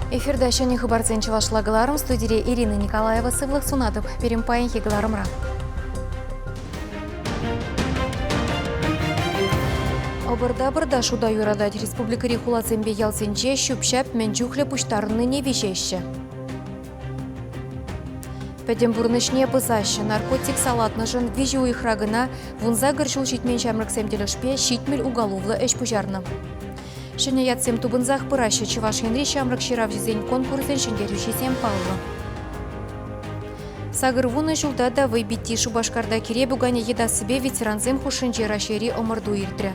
Эфирта ҫӗнӗ хыпарсен чӑвашла кӑларӑм студире Ирина Николаева сывлӑх сунатӑп пирӗн паянхи кӑларӑмра. Ӑпӑр-тапӑрта шута юратать. Республикӑри хуласемпе ялсенче ҫӳп-ҫап мӗн чухлӗ пуҫтарӑннине виҫеҫҫӗ. Пӗтӗм пурнӑҫне пӑсаҫҫӗ. Наркотик салатнӑшӑн виҫӗ уйӑхра кӑна вунсакӑр ҫул ҫитмен ҫамрӑксем тӗлӗшпе ҫитмӗл уголовлӑ ӗҫ пуҫарнӑ. Ҫӗнӗ ятсем тупӑнсах пыраҫҫӗ Чӑваш Енри ҫамрӑк ҫыравҫӑсен конкурсӗн ҫӗнтерӳҫисем паллӑ. Сакӑр вунӑ ҫулта та вӑйпитти Шупашкарта кире пуканӗ йӑтассипе ветерансем хушшинче Раҫҫейри ӑмӑрту иртрӗ.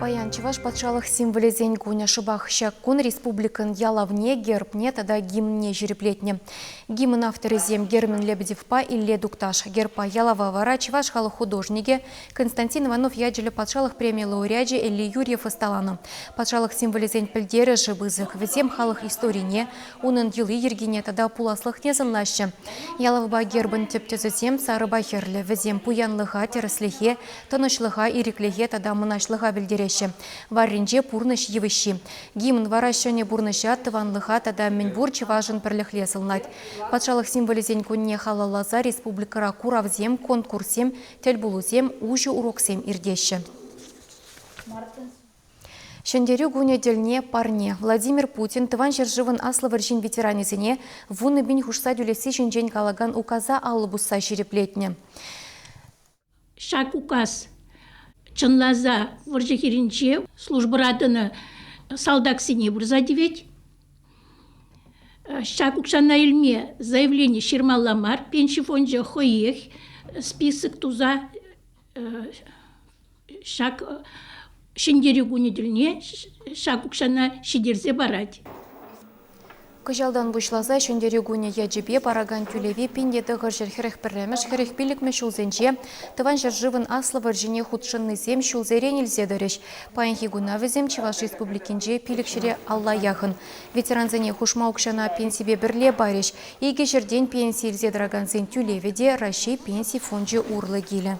Паян Чӑваш патшалӑх символӗсен кунӗ шӑпах ҫак кун республикӑн ялавне, гербне тата гимнне ҫирӗплетнӗ. Гимн авторӗсем Герман Лебедевпа Илле Тукташ. Гербпа ялава вара чӑваш халӑх художникӗ Константин Иванов ячӗллӗ патшалӑх премийӗ лауреачӗ Ели Юрьев ӑсталанӑ. Патшалӑх символӗсен пӗлтерӗшӗ пысӑк. Вӗсем халӑх историне, унӑн йӑли-йӗркине тата пуласлӑхне сӑнлаҫҫӗ. Ялавпа гербӑн тӗп тӗсӗсем сарӑпа хӗрлӗ, вӗсем пуянлӑха, тӗрӗслӗхе, Тӑнӑҫлӑха, ирӗклӗхе тата мӑнаҫлӑха пӗлтереҫҫӗ варринче пурнӑҫ йывӑҫҫи. Гимн вара ҫӗнӗ пурнӑҫа, тӑванлӑха тата мӗнпур чӑвашӑн пӗрлӗхре сӑнлать. Патшалӑх символӗсен кунне халалласа республикӑра куравсем, конкурссем, тӗлпулусем, уҫӑ уроксем иртеҫҫӗ. Ҫӗнтерӳ кунӗ тӗлне парне, Владимир Путин Тӑван ҫӗршывӑн Аслӑ вӑрҫин ветеранӗсене вуннӑ пин хушса тӳлесси ҫинчен калакан указа алӑ пусса ҫирӗплетнӗ. Ҫак указ чӑнласа вӑрҫӑ хирӗнче службӑра тӑнӑ салтаксене пырса тивет. Ҫак укҫана илме заявлени ҫырмалла мар, пенси фончӗ хӑех список туса ҫак Ҫӗнтерӳ кунӗ тӗлне ҫак укҫана ҫитерсе парать. Кӑҫалтан пуҫласа Ҫӗнтерӳ кунӗ ячӗпе паракан тӳлеве пин те тӑхӑрҫӗр хӗрӗх пӗрремӗш хӗрӗх пиллӗкмӗш ҫулсенче Тӑван ҫӗршывӑн Аслӑ вӑрҫине хутшӑннисем ҫулсерен илсе тӑрӗҫ. Паянхи куна вӗсем Чӑваш Республикинче пилӗк ҫӗре алла яхӑн. Ветерансене хушма укҫана пенсипе пӗрле парӗҫ. Икӗ ҫӗртен пенси илсе тӑракансен тӳлевӗ те Раҫҫей Пенси фончӗ урлӑ килӗ.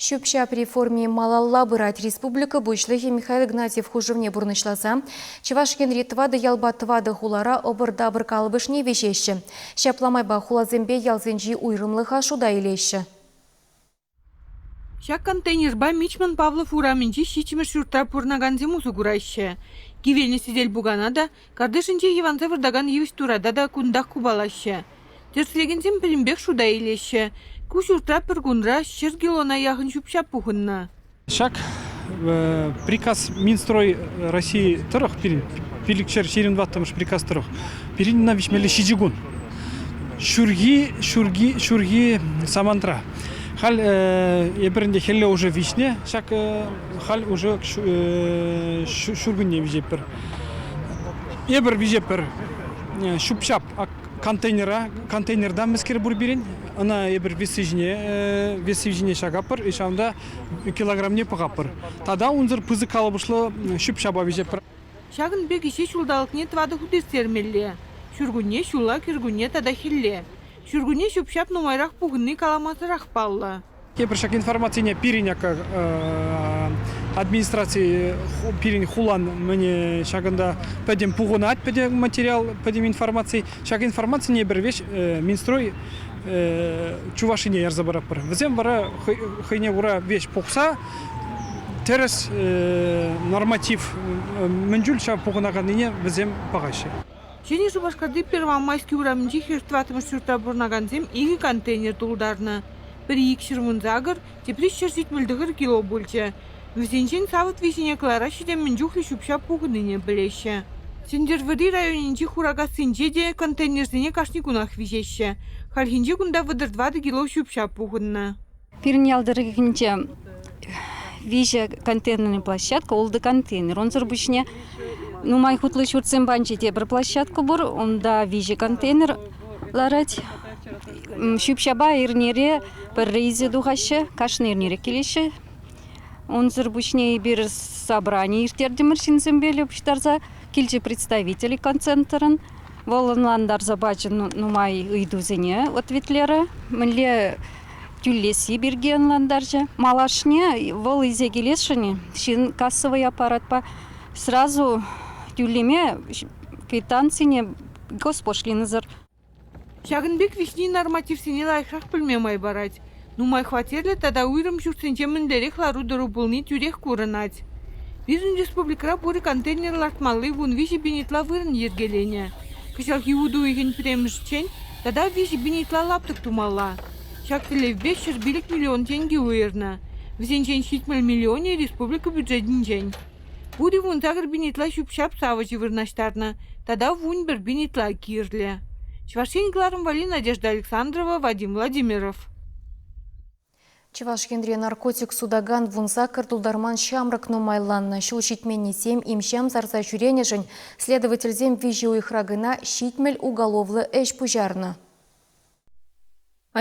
Ҫӳп-ҫап реформи малалла пырать. Республика Пуҫлӑхӗ Михаил Игнатьев хушӑвне пурнӑҫласа Чӑваш Енри тӑватӑ ялпа тӑватӑ хулара ӑпӑр-тапӑр калӑпӑшне виҫеҫҫӗ. Ҫапла майпа хуласемпе ялсенчи уйрӑмлӑха шута илеҫҫӗ. Ҫак контейнерпа Мичман Павлов урамӗнчи ҫиччӗмӗш ҫуртра пурӑнакансем усӑ кураҫҫӗ. Кивелнӗ сӗтел-пукана та Картишӗнче йӑванса выртакан йывӑҫ турата та кунтах купалаҫҫӗ. Тӗрӗслекенсем пӗтӗмпех шута илеҫҫӗ. Ку ҫуртра пӗр кунра ҫӗр килона яхӑн ҫӳп-ҫап пухӑннӑ. Ҫак приказ Минстрой России тӑрӑх пирӗн, пилӗкҫӗр ҫирӗм тӑваттӑмӗш приказ тӑрӑх, пирӗн ӑна виҫмелле ҫичӗ кун. Ҫурхи, ҫурхи, ҫурхи самантра. Халь эпир ӗнтӗ хӗлле уже виҫнӗ, ҫак халь уже ҫуркунне виҫетпӗр. Эпир виҫепӗр ҫӳп-ҫап контейнера контейнерта мӗскер пур пирӗн ӑна эпир весси ҫине весси ҫине ҫакаппӑр ҫавӑнта килограмне пӑхаппӑр тата унсӑр пысӑк калӑпӑшлӑ ҫӳп-ҫапа виҫеппӗр. Ҫакӑн пек ӗҫе ҫулталӑкне тӑватӑ хут ирттермелле ҫуркунне, ҫулла кӗркунне тата хӗлле. Ҫуркунне ҫӳп-ҫап нумайрах пухӑнни каламасӑрах паллӑ. Тепӗр ҫак информацине пирӗн администраци пирӗн хулан мӗне ҫакӑнта пӗтӗм пухӑнать пӗтӗм материал, пӗтӗм информаци. Ҫак информацине пӗр веҫ Минстрой Чувашине ярса паратпӑр. Вӗсем вара хӑйне кура веҫ пухса тӗрӗс норматив мӗн чуль ҫав пухӑнаканнине вӗсем пӑхаҫҫӗ. Ҫӗнӗ Шупашкарти Первомайски урамӗнчи хӗр тӑваттӑмӗш ҫуртра пурӑнакансем икӗ контейнер тултарнӑ. Пӗри икҫӗр вун сакӑр, тепри ҫӗр сикмӗлтӗхӗр кило пулчӗ. Вӗсенчен савӑт виҫине кӑлараҫҫӗ те мӗн чухлӗ ҫӳп-ҫап пухӑннине пӗлеҫҫӗ. Сӗнтӗрвӑрри районӗнчи Хуракассинче те контейнерсене кашни кунах виҫеҫҫӗ. Хальхинче кунта вӑтӑр тӑватӑ кило ҫӳп-ҫап пухӑннӑ. Пирӗн ял тӑрӑхӗнче виҫӗ контейнерная площадка, ултӑ контейнер. Унсӑр пуҫне нумай хутлӑ ҫуртсем панчи те пӗр площадка пур. Унта виҫӗ контейнер ларать. Ҫӳп-ҫапа эрнере пӗр рейсе тухаҫҫӗ, кашни эрнере килеҫҫӗ. Унсӑр пуҫне эпир собрани ирттертӗмӗр ҫынсемпе пуҫтарса. Килчӗ представитель иконцентрӑн. Вӑл ӑнлантарса пачӗ нумай ыйтусене, ответлерӗ. Мӗнле тӳлесси пирки ӑнлантарчӗ. Малашне вӑл илсе килесшӗн ҫын кассовый аппаратпа сразу тӳлеме квитанцине госпошлинӑсӑр. Ҫакӑн пек виҫни нормативсене лайӑхрах пӗлме май парать. Нумай хваттерлӗ тата уйрӑм ҫуртсенче мӗнлерех лару-тӑру пулни тӳрех курӑнать. Пирӗн республикӑра пур контейнер лартмалли вун виҫӗ бенитла вырӑн йӗркеленӗ. Кӑҫалхи уту уйӑхӗн пӗрремӗшӗнчен Тата виҫӗ пин ытла лаптӑк тумалла. Ҫак тӗллевпе ҫӗр пилӗк миллион тенкӗ уйӑрнӑ. Вӗсенчен ҫитмӗл миллионӗ республика бюджетӗнчен. Пурин вун сакӑр пин ытла ҫӳп-ҫап савӑчӗ вырнаҫтарнӑ тата вун пӗр пин ытла кирлӗ. Чӑваш Ен кӑларӑм валли Надежда Александрова, Вадим Владимиров. Чӑваш Енре наркотик сутакан вунсакӑр тултарман ҫамрӑк нумайланнӑ. Ҫул ҫитменнисем им-ҫам сарса ҫӳренӗшӗн следовательсем виҫӗ уйӑхра кӑна ҫитмӗл уголовлӑ ӗҫ пуҫарнӑ.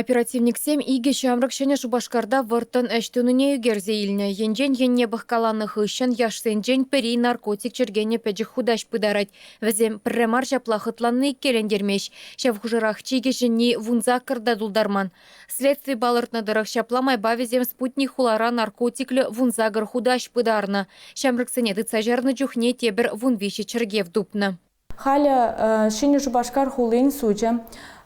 Оперативниксем икӗ ҫамрӑк Ҫӗнӗ Шупашкарта вӑрттӑн ӗҫ тунине ӳкерсе илнӗ. Енчен енне пӑхкаланӑ хыҫҫӑн яшсенчен пӗри наркотик чӗркенӗ пӗчӗк хутаҫ пытарать. Вӗсем пӗрре мар ҫапла хӑтланни иккелентермест. Ҫав хушӑрах чи кӗҫӗнни вунсаккӑр та тултарман. Следстви палӑртнӑ тӑрӑх, ҫапла майпа вӗсем спутник хулара наркотиклӗ вунсакӑр хутаҫ пытарнӑ. Ҫамрӑксене тытса чарнӑ чухне тепӗр вун виҫӗ чӗркев тупнӑ. Халӗ Ҫӗнӗ Шупашкар хулин сучӗ,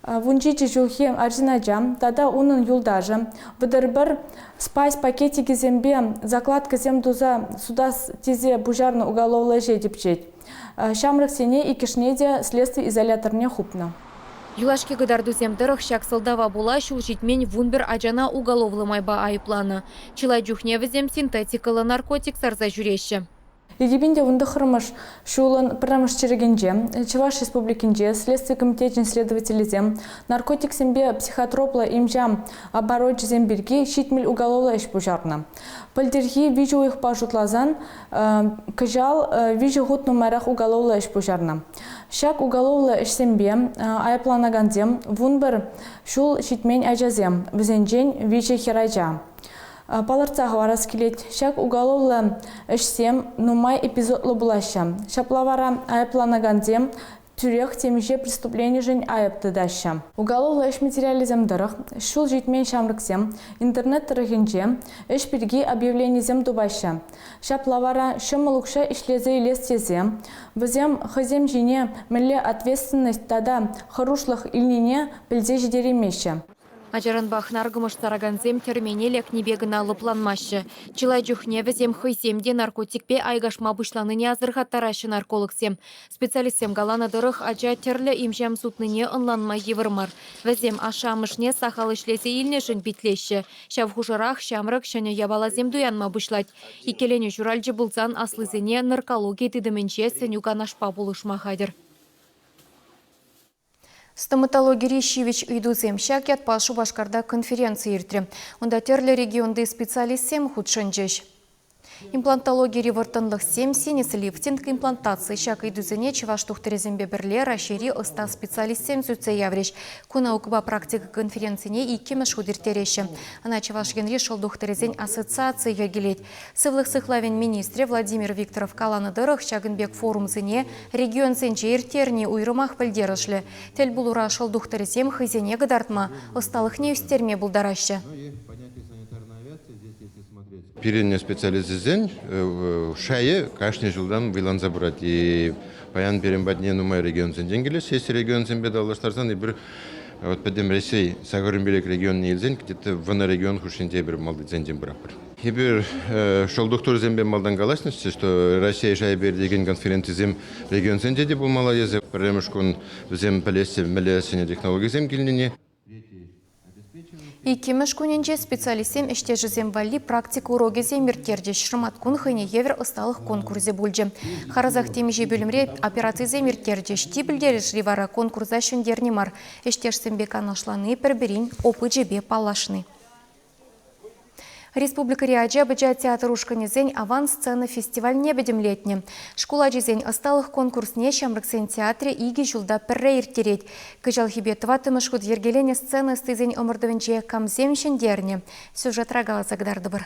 вунҫичӗ ҫулхи арҫын ача тата унӑн юлташӗ, вӑтӑр-пӗр спайс пакетикӗсемпе закладкӑсем туса сутас тесе пуҫарнӑ уголовлӑ ӗҫе тӗпчет. Ҫамрӑксене иккӗшне те следстви изоляторне хупнӑ. Юлашки кӑтартусем тӑрӑх ҫак сӑлтава пула ҫул ҫитмен вунпӗр ачана уголовлӑ майпа айӑпланӑ. Чылай чухне вӗсем синтетикӑллӑ наркотик сарса ҫӳреҫҫӗ. Египетӗнче вун тӑххӑрмӗш ҫулӑн пӗрремӗш чирӗкӗнче Чӑваш Республикинче Следстви комитечӗн следователӗсем наркотиксемпе психотроплӑ имҫа оборочӗсем пирки ҫитмӗл уголовлӑ ӗҫ пуҫарнӑ. Пӗлтӗрхи виҫӗ уйӑхпа шутласан Кӑҫал виҫӗ хут нумайрах уголовлӑ ӗҫ пуҫарнӑ. Ҫак уголовлӑ ӗҫсемпе айӑпланакансем вун пӗр ҫул ҫитмен ачасем, вӗсенчен виҫӗ хӗрача. Палӑртса хӑварас килет, ҫак уголовлӑ ӗҫсем нумай эпизодлӑ пулаҫҫӗ. Ҫапла вара айӑпланакансем тӳрех темиҫе преступленишӗн айӑп тытаҫҫӗ. Уголовлӑ ӗҫ материалӗсем тӑрӑх ҫул ҫитмен ҫамрӑксем интернет тӑрӑхӗнче ӗҫ пирки объявленисем тупаҫҫӗ. Ҫапла вара ҫӑмӑл укҫа ӗҫлесе илес тесе вӗсем хӑйсем ҫине мӗнле ответственность тата хӑрушлӑх илнине пӗлсе ҫитереймеҫҫӗ. Ачаранпах наркӑмӑшларакансем тӗрмене лекнипе кӑна лӑпланмаҫҫӗ. Чылай чухне вӗсем хӑйсем те наркотикпе айкашма пуҫланине асӑрхаттараҫҫӗ наркологсем. Специалистсем каланӑ тӑрӑх, ача тӗрлӗ имҫам сутнине ӑнланма йывӑр мар. Вӗсем ашшӗ-амӑшне сахал ӗҫлесе илнӗшӗн питлеҫҫӗ. Ҫав хушӑрах ҫамрӑк ҫӗнӗ япаласем туянма пуҫлать. Иккӗленӳ ҫуралчӗ пулсан аслисене наркологи тытӑмӗнче сӗнӳ-канашпа пулӑшма хатӗр. Стоматологири ҫивӗч ыйтусем ҫак ятпа Шупашкарта конференци иртрӗ. Унта тӗрлӗ регионти специалистсем хутшӑнчӗҫ. Имплантологири вӑрттӑнлӑхсем, синец лифтинг, имплантаци ҫак ыйтусене чӑваш тухтӑрӗсемпе пӗрле Раҫҫейри ӑста специалистсем сӳтсе яврӗҫ. Ку наукӑпа практика конференцине иккӗмӗш хут ирттереҫҫӗ. Ӑна Чӑваш Енри шӑл тухтӑрӗсен ассоциацийӗ йӗркелет. Сывлӑх сыхлавӗн министрӗ Владимир Викторов каланӑ тӑрӑх, ҫакӑн пек форумсене регионсенче ирттерни уйрӑмах пӗлтерӗшлӗ. Тӗл пулура шӑл тухтӑрӗсем хӑйсене кӑтартма, ӑсталӑхне ӳстерме пултараҫҫӗ. Пирӗн специалистсен шайӗ кашни ҫултан вӑйланса пырать. Паян пирӗн патне нумай регионсенчен килеҫҫӗ. Есть регионсемпе танлаштарсан эпир пӗтӗм Раҫҫей сакӑр инбелек регионне илсен вӑнӑ регион хушшинче эпир малтисенчен пыратпӑр. Эпир шкул тухтӑрӗсемпе малтан калаҫнӑччӗ, что Россия шайӗпе иртекен конференцисем регионсенче те пулмалла. Эсӗ пӗрремӗш кун вӗсем пӗлеҫҫӗ, мӗллессӗне технологисем килнине. Иккӗмӗш кунӗнче специалистсем ӗҫтешӗсем валли практика урокӗсем ирттерчӗҫ. Шӑматкун хӑйне евӗр ӑсталӑх конкурсӗ пулчӗ. Харӑсах темиҫе пӳлӗмре операцисем ирттерчӗҫ. Чи пӗлтерӗшли вара конкурса ҫӗнтерни мар, ӗҫтешсемпе канашлани, пӗр-пӗрин опычӗпе паллашни. Республикӑри ача-пӑча театр ушкӑнӗсен «Аван сцена» фестивальне пӗтӗмлетнӗ. Шкул ачисен ӑсталӑх конкурсне Ҫамрӑксен театрӗ икӗ ҫулта пӗрре ирттерет. Кӑҫалхипе тӑваттӑмӗш хут йӗркеленӗ сцена ӑстисен ӑмӑртӑвӗнче камсем ҫӗнтернӗ? Сюжетра каласа кӑтартӑпӑр.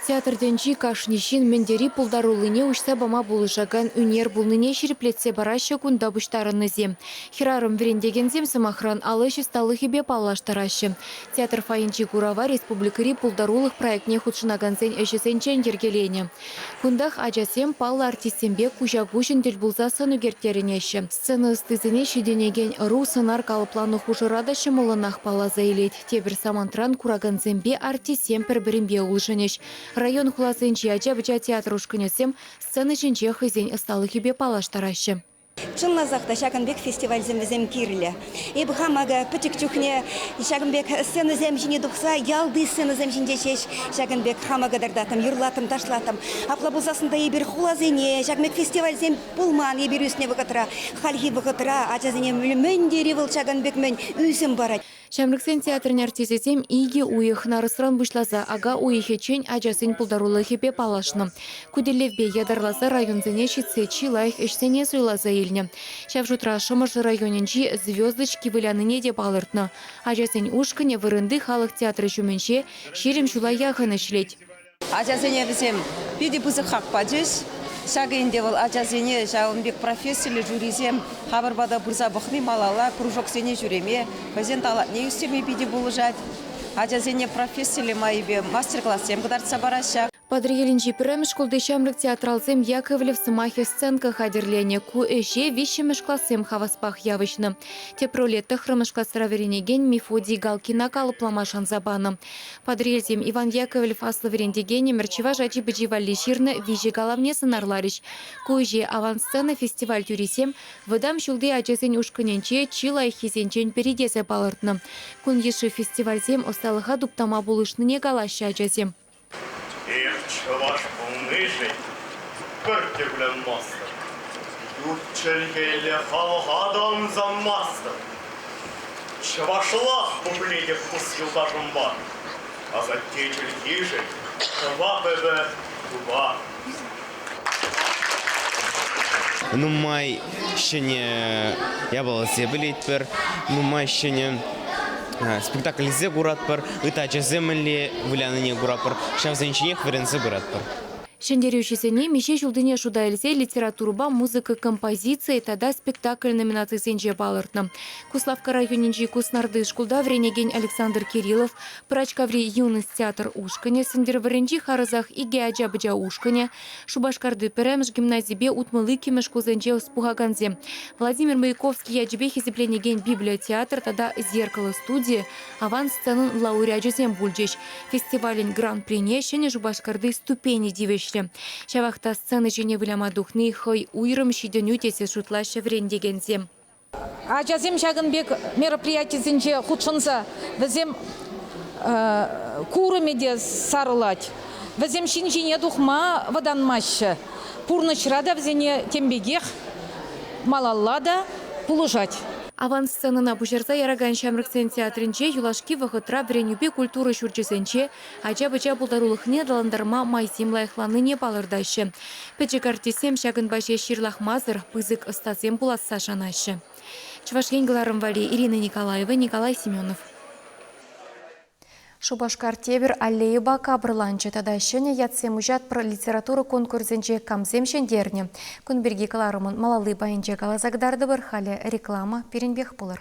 Театртенчи кашни ҫын мӗн тери пултаруллине уҫса пама пулӑшакан ӳнер пулнине ҫирӗплетсе параҫҫӗ кунта пуҫтарӑннисем. Хӗрарӑм вӗрентекенсем, сӑмахран, ал ӗҫ ӑсталӑхӗпе паллаштараҫҫӗ. Театр фойинчи курава республикӑри пултарулӑх проектне хутшӑнакансен ӗҫӗсенчен йӗркеленӗ. Кунтах ачасем паллӑ артистсемпе куҫа-куҫӑн тӗл пулса сӑн ӳкерттерӗнеҫҫӗ. Сцена ӑстисене ҫитӗнекен ӑру сӑнар калӑпланӑ хушӑра та ҫӑмӑллӑнах палласа илет. Тепӗр самантран куракансемпе артистсем пӗр-пӗринпе улшӑнӗҫ. Район хуласенчи ача-пӑча театр ушкӑнӗсем сцена ҫинче хӑйсен ӑсталӑхӗпе паллаштараҫҫӗ. Чӑнласах та ҫакӑн пек фестивальсем вӗсем кирлӗ. Эпӗ хам акӑ пӗчӗк чухне ҫакӑн пек сценӑсем ҫине тухса ялти сценӑсем ҫинче ҫеҫ ҫакӑн пек хама кӑтартаттӑм, юрлаттӑм-ташлаттӑм. Апла пулсассӑн та эпир хуласене ҫак пек фестивальсем пулман. Эпир ӳснӗ вӑхӑтра, хальхи вӑхӑтра ачасене мӗн тери вӑл ҫакӑн пек мӗн ӳсӗм парать. Ҫамрӑксен театрӗн артисчӗсем икӗ уйӑх нарӑсран пуҫласа ака уйӑхӗччен ачасен пултарулӑхӗпе паллашнӑ. Ку тӗллевпе ятарласа районсене ҫитсе чи лайӑх ӗҫсене суйласа илнӗ. Ҫав шутра Шӑмӑршӑ районӗнчи Звездочки вылянине те палӑртнӑ. Ачасен ушкӑнӗ вырӑнти халӑх театрӗ ҫумӗнче ҫирӗм ҫула яхӑн ӗҫлет. Ачасене вӗсем питӗ пысӑк хак пачӗҫ. Ҫакӑ ӗнтӗ вӑл ачасене ҫавӑн пек профессиллӗ жюрисем хамӑр пата пырса пӑхни малалла кружоксене ҫӳреме, хӑйсен талантне ӳстерме питӗ пулӑшать. Ачасене профессиллӗ майӗпе мастер-классем кӑтартса параҫҫӗ. Патӑрьелӗнчи пӗрремӗш шкулти ҫамрӑк театралсем Яковлев сӑмахӗ сценка хатӗрленӗ. Ку ӗҫе виҫҫӗмӗш классем хаваспах явӑҫнӑ. Тӗп роле тӑхрӑмӗш класра вӗренекен Мефодий Галкина калӑплама шанса панӑ. Патӑрьелсем Иван Яковлев аслӑ вӗрентекен ӗмӗр чӑваш ачи-пӑчи валли ҫырнӑ виҫӗ калавне сӑнарларӗҫ. Ку ӗҫе Аван сцена фестиваль тӳрисем вӑтам ҫулти ачасен ушкӑнӗнче чи лайӑххисенчен пӗри тесе палӑртнӑ. Кун йышши фестивальсем ӑсталӑха туптама пулӑшнине калаҫҫӗ ачасем. Эп чӑваш пулнишӗн пӗр тӗплӗн мастӑп. Ют чӗлхелле халӑха та ӑнсанмастӑп. Чӑвашлах пуплетӗп пус юлташӑмпа, Асатте чӗлхишӗн шӑпа пӗвӗ тупа. Нумай ҫӗнӗ япаласем пӗлетпӗр, нумай ҫӗнӗ спектакльсем куратпӑр, ытачӑсем мӗнле вылянине куратпӑр, ҫавсен ҫинех вӗренсе пыратпӑр. Ҫӗнтерӳҫӗсене миҫе ҫултине шута илсе литературӑпа музыка композицийӗ тата спектакль номинацисенче палӑртнӑ. Куславкка районӗнчи Куснарти шкулта вӗренекен Александр Кириллов, Пӑрачкаври Юность театр ушкӑнӗ, Сӗнтӗрвӑрринчи харӑсах икӗ ача-пӑча ушкӑнӗ, Шупашкарти пӗрремӗш гимназипе утмӑл иккӗмӗш шкулсенче ӑс пухакансем, Владимир Маяковский ячӗпе хисепленекен библиотеатр тата зеркало студийӗ, Аван сценӑн лауреачӗсем пулчӗҫ. Фестивалӗн гран-прине Ҫӗнӗ Шупашкарти ступени тивӗҫрӗ. Ҫавах та сцена ҫине выляма тухни хӑй уйрӑм ҫитӗнӳ тесе шутлаҫҫӗ вӗрентекенсем. Ачасем ҫакӑн пек мероприятисенче хутшӑнса вӗсем курӑмӗ те сарӑлать, вӗсем ҫын ҫине тухма вӑтанмаҫҫӗ. Пурнӑҫра та вӗсене тем пекех малалла та пулӑшать. Авансценӑна пуҫарса яракан ҫамрӑксен театрӗнче юлашки вӑхӑтра вӗренӳпе культура ҫурчӗсенче ача-пӑча пултарулӑхне аталантарма майсем лайӑхланнине палӑртаҫҫӗ. Пӗчӗк артистсем ҫакӑнпа ҫеҫ ҫырлахмасӑр пысӑк ӑстасем пуласса шанаҫҫӗ. Чӑваш Ен кӑларӑм валли Ирина Николаева, Николай Семенов. Шупашкар тепӗр аллейӑпа капӑрланчӗ тата ҫӗнӗ ятсем уҫатпӑр литература конкурсӗнче камсем ҫӗнтернӗ кун пирки кӑларӑмӑн малалли пайӗнче каласа кӑтартӑпӑр. Халӗ реклама пирӗнпех пулӑр.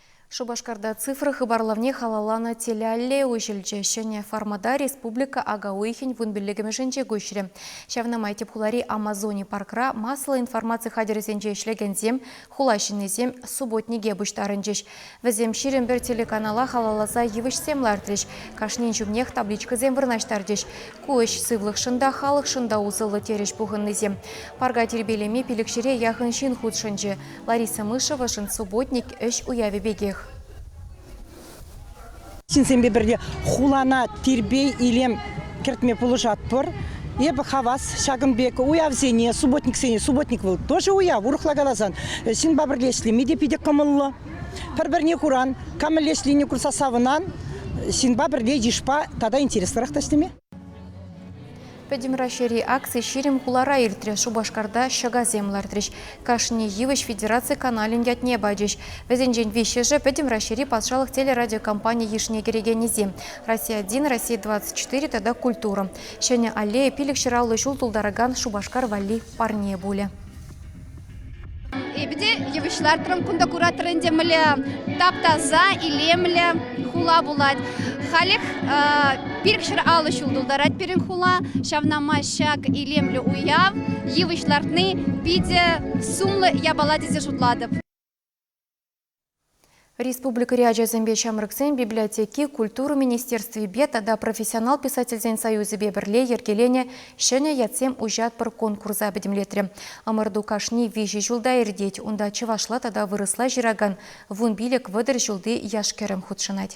Шупашкарта цифра хыпарлавне халалланӑ телеаллея уҫӑлчӗ. Ҫӗнӗ формата республика ака уйӑхӗн вун пиллӗкӗмӗшӗнче куҫрӗ. Ҫавна май тӗп хулари Амазони паркра масло информаци хатӗрӗсенче ӗҫлекенсем, хула ҫыннисем субботнике пуҫтарӑнчӗҫ. Вӗсем ҫирӗм пӗр телеканала халалласа йывӑҫсем лартрӗҫ, кашнин ҫумнех табличкӑсем вырнаҫтарчӗҫ. Ку ӗҫ сывлӑхшӑн та, халӑхшӑн та усӑллӑ, терӗҫ пухӑннисем. Парка тирпейлеме пилӗкҫӗре яхӑн ҫын хутшӑнчӗ. Лариса Мышевӑшӑн субботник ӗҫ уявӗ пекех. Ҫынсемпе пӗрле хулана тирпей-илем кӗртме пулӑшатпӑр. Эпӗ хавас ҫакӑн пек уявсене, субботниксене. Субботник вӑл тоже уяв, урӑхла каласан. Ҫынпа пӗрле ӗҫлеме те питӗ кӑмӑллӑ. Пӗр-пӗрне куран, кам мӗнле ӗҫленине курса савӑнан. Ҫынпа пӗрле йышпа тата интереслӗрех та ӗҫлеме. Пӗтӗм Раҫҫейри акци ҫирӗм хулара иртрӗ. Шупашкарта ҫӑкасем лартрӗҫ. Кашни йывӑҫ федераци каналӗн ятне пачӗҫ. Вӗсенчен виҫҫӗшӗ пӗтӗм Раҫҫейри патшалӑх телерадиокомпани йышне кӗрекенӗсем. Россия один, Россия 24 тата Культура. Ҫӗнӗ аллея пилӗк ҫӑраллӑ ҫул тултаракан Шупашкар валли парне пулӗ. Эпӗ те йывӑҫ лартрӑм, кунта куратрӑр ӗнтӗ мӗнле тап-таса, илемлӗ хула пулать. Халех пирӗкҫӗр алӑ ҫул тултарать пирӗн хула. Ҫавна май ҫак илемлӗ уяв, йывӑҫ лартни питӗ сумлӑ япала тесе шутлатӑп. Республикӑри ачасемпе ҫамрӑксен библиотеки Культура министерствипе тата Профессионал писательсен союзӗпе пӗрле йӗркеленӗ ҫӗнӗ ятсем уҫатпӑр конкурса пӗтӗмлетрӗ. Ӑмӑрту кашни виҫӗ ҫулта иртет. Унта чӑвашла тата вырӑсла ҫыракан вун пилӗк вӑтӑр ҫулти яш-кӗрӗм хутшӑнать.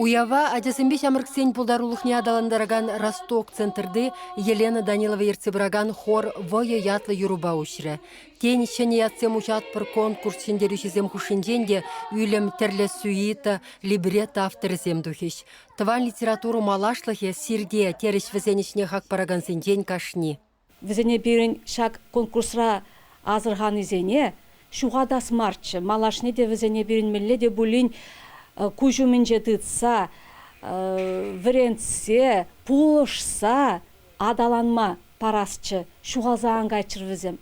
Уява ачасемпе ҫамрӑксен пултарулӑхне аталантаракан «Росток» центрти Елена Данилова ертсе пыракан хор «Вӑйӑ» ятлӑ юрӑпа уҫрӗ. Тен, ҫӗнӗ ятсем уҫатпӑр конкурс ҫӗнтерӳҫисем хушшинчен те Ӳлӗм, Тӗрлӗ сюита, либретто авторӗсем тухӗҫ. Тӑван литература малашлӑхӗ сирте, терӗҫ вӗсен ӗҫне хак паракансенчен кашни. Вӗсене пирӗн ҫак конкурсра асӑрханисене ҫухатас марччӗ, малашне те вӗсене пирӗн мӗнле те пулин куҫ умӗнче тытса, вӗрентсе, пулӑшса аталанма парасчӗ, ҫухалса ан кайччӑр вӗсем.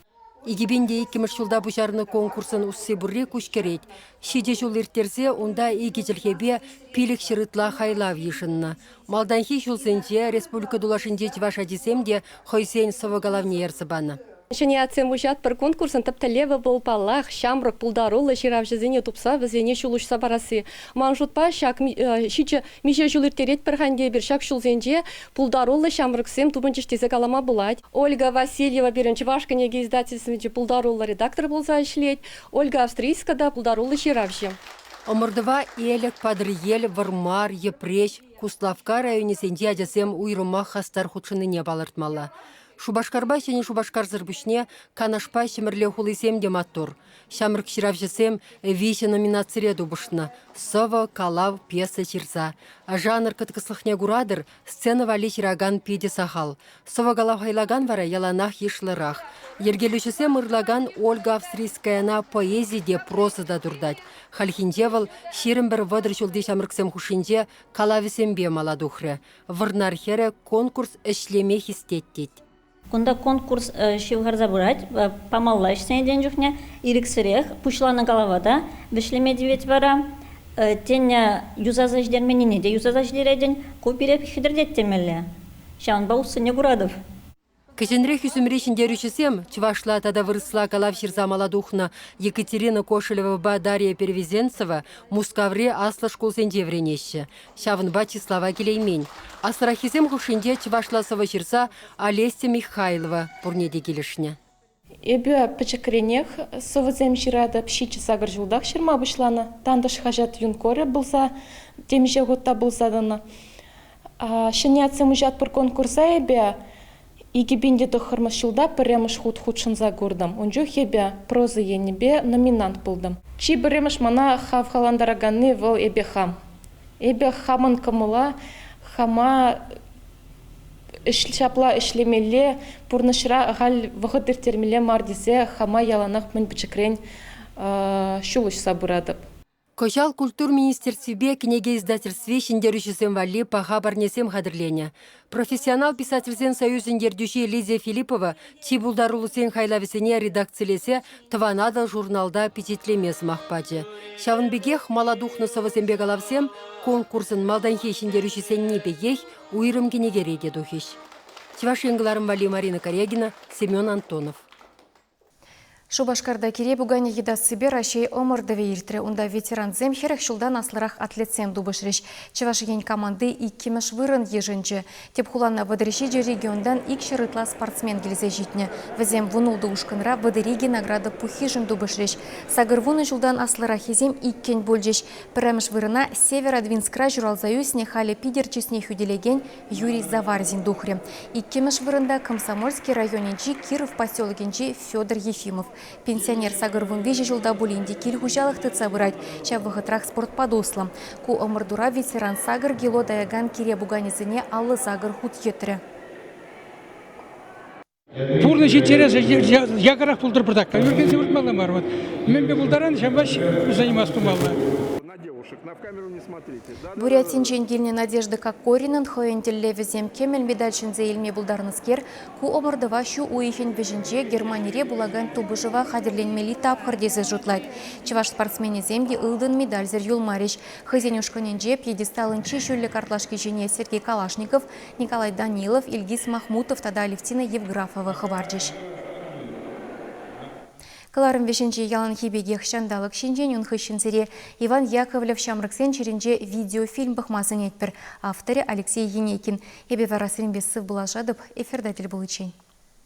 Икӗпин те иккӗмӗш ҫулта пуҫарнӑ конкурсӑн усси пурри куҫкӗрет. Ҫичӗ ҫул ирттерсе унта икӗ чӗлхепе пилӗк ҫыр ытла хайлав йышӑннӑ. Малтанхи ҫулсенче республика тулашӗнчи чӑваш ачисем те хӑйсен сӑвӑ-калавне ертсе панӑ. Ҫӗнӗ атьсем уҫатпӑр конкурсӑн тӗп тӗллевӗ вӑл, паллах, ҫамрӑк пултаруллӑ ҫыравҫӑсене тупса вӗсене ҫул уҫса парасси. Ман шутпа, ҫак ҫичӗ миҫе ҫул ирттеретпӗр-ха ӗнтӗ эпир ҫак ҫулсенче, пултаруллӑ ҫамрӑксем тупӑнчӗҫ тесе калама пулать. Ольга Васильева пирӗн Чӑваш кӗнеке издательствинчи пултаруллӑ редактор пулса ӗҫлет. Ольга Австрийска та пултаруллӑ ҫыравҫӑ. Ӑмӑртӑва Элӗк, Патӑрьел, Вӑрмар, Йӗпреҫ, Куславкка районӗсенчи ачасем уйрӑмах хастар хутшӑннине палӑртмалла. Шупашкарпа Ҫӗнӗ Шупашкарсӑр пуҫне Канашпа Ҫӗмӗрле хулисем те маттур. Ҫамрӑк ҫыравҫӑсем виҫӗ номинацире тупӑшнӑ: сӑвӑ, калав, пьеса ҫырса. Жанр кӑткӑслӑхне куратӑр, Сцена валли ҫыракан питӗ сахал. Сӑвӑ калаҫӑлакан вара яланах йышлӑрах. Йӗркелӳҫӗсем ырлакан Ольга Австрийскаяна поэзи те, проза та туртать. Хальхинче вӑл ҫирӗм пӗр вӑтӑр ҫулти ҫамрӑксем хушшинче калавӗсемпе мала тухрӗ. Вӑрнар хӗрӗ конкурс ӗҫлеме хистет тет. Кунта конкурс ҫывхарса пырать. Памалла ӗҫленӗ чухне ирӗксӗрех пуҫланӑ калава та вӗҫлеме тивет вара. Тенӗ юсаса ҫитерменнине те юсаса ҫитеретӗн. Ку пире хӗтӗртет темелле. Ҫавӑнпа уссене куратӑп. Кӗҫӗнрех ӳсӗмри ҫӗнтерӳҫӗсем чӑвашла тата вырӑсла калав ҫырса мала тухнӑ. Екатерина Кошелевӑпа Дарья Первизенцева Мускаври аслӑ шкулсенче вӗренеҫҫӗ. Ҫавӑнпа чыслава килеймен. Асраххисем хушшинче чӑвашла сӑвӑ ҫырса Олеся Михайлова пурне те килӗшнӗ. Эпӗ пӗчӗкренех сӑвӑсем ҫыратӑп. Ҫичӗ-сакӑр ҫултах ҫырма пуҫланӑ. Тантӑш хаҫат юнкорӗ пулса, темиҫе хут та пулса тӑнӑ. Ҫӗнӗ ятсем уҫатпӑр конкурса эпӗ Икӗ пин те тӑххӑрмӗш ҫулта пӗрремӗш хут хутшӑнса куртӑм. Ун чух эпӗ проза енӗпе номинант пултӑм. Чи пӗрремӗш мана хавхалантараканни вӑл эпе хам. Эпӗ хамӑн кӑмӑла, хама ҫапла ӗҫлемелле, пурнӑҫра ахаль вӑхӑт ирттермелле мар тесе хама яланах мӗн пӗчӗкрен ҫул уҫса пыратӑп. Кӑҫал культура министерствипе кӗнеке издательстви ҫӗнтерӳҫӗсем валли паха парнесем хатӗрленӗ. Профессионал писательсен союзӗн ертӳҫи Лидия Филиппова чи пултаруллисен хайлавӗсене редакцилесе Тӑван Атӑл журналта пичетлеме сӑмах пачӗ. Ҫавӑн пекех мала тухнӑ сӑвӑсемпе калавсем конкурсӑн малтанхи ҫӗнтерӳҫисенни пекех уйрӑм кӗнекере те тухӗҫ. Чӑваш Ен кӑларӑм валли Марина Корягина, Семен Антонов. Шупашкарта кире пуканӗ йӑтассипе Раҫҫей ӑмӑртӑвӗ иртрӗ. Унта ветерансем хӗрӗх ҫултан аслӑрах атлетсем тупӑшрӗҫ. Чӑваш Ен команди иккӗмӗш вырӑн йышӑнчӗ. Тӗп хулана вӑтӑрҫичӗ регионтан икҫӗр ытла спортсмен килсе ҫитнӗ. Вӗсем вун ултӑ ушкӑнра вӑтӑр-икӗ награда пуххишӗн тупӑшрӗҫ. Сакӑр вунӑ ҫултан аслӑраххисем иккӗн пулчӗҫ. Пӗрремӗш вырӑна Северодвинскра ҫуралса ӳснӗ, халӗ Питӗр чысне хӳтӗлекен Юрий Заварзин тухрӗ. Иккӗмӗш вырӑнта Комсомольски районӗнчи Киров поселокӗнчи Федор Ефимов. Пенсионер сакӑр вун виҫӗ ҫулта пулин те кил хуҫалӑх тытса пырать, ҫав вӑхӑтрах спортпа туслӑ. Ку ӑмӑртура ветеран сакӑр кило таякан кире пуканӗсене аллӑ сакӑр хут йӑтрӗ. Пурнӑҫ интересӗ якӑрах пултӑр пӑртак. Ӳркенсе выртмалла мар. Вот. Мӗнпе пултаран ҫавӑнпа заниматься тумалла. Бурятинчен килнӗ Надежда Кокоринӑн хӑйӗн тӗллевӗсем кӗмӗл медаль ҫӗнсе илме пултарнӑскер, ку ӑмӑртӑва ҫу уйӑхӗн вӗҫӗнче Германире пулакан тупӑшӑва хатӗрленмелли тапхӑр тесе шутлать. Чӑваш спортсменӗсем те ылтӑн медальсӗр юлмарӗҫ. Хӑйсен ушкӑнӗнче пьедесталӑн чи ҫӳллӗ картлашки ҫине Сергей Калашников, Николай Данилов, Ильгиз Махмутов тата Алевтина Евграфова хӑпарчӗҫ. Кӑларӑм вӗҫӗнче яланхи пекех ҫанталӑк ҫинчен, ун хыҫҫӑн сире Иван Яковлев ҫамрӑксен чӗринче видеофильм пӑхма сӗнетпӗр, авторӗ Алексей Енейкин. Эпӗ вара сирӗнпе сывпуллашатӑп эфирта тӗл пуличчен.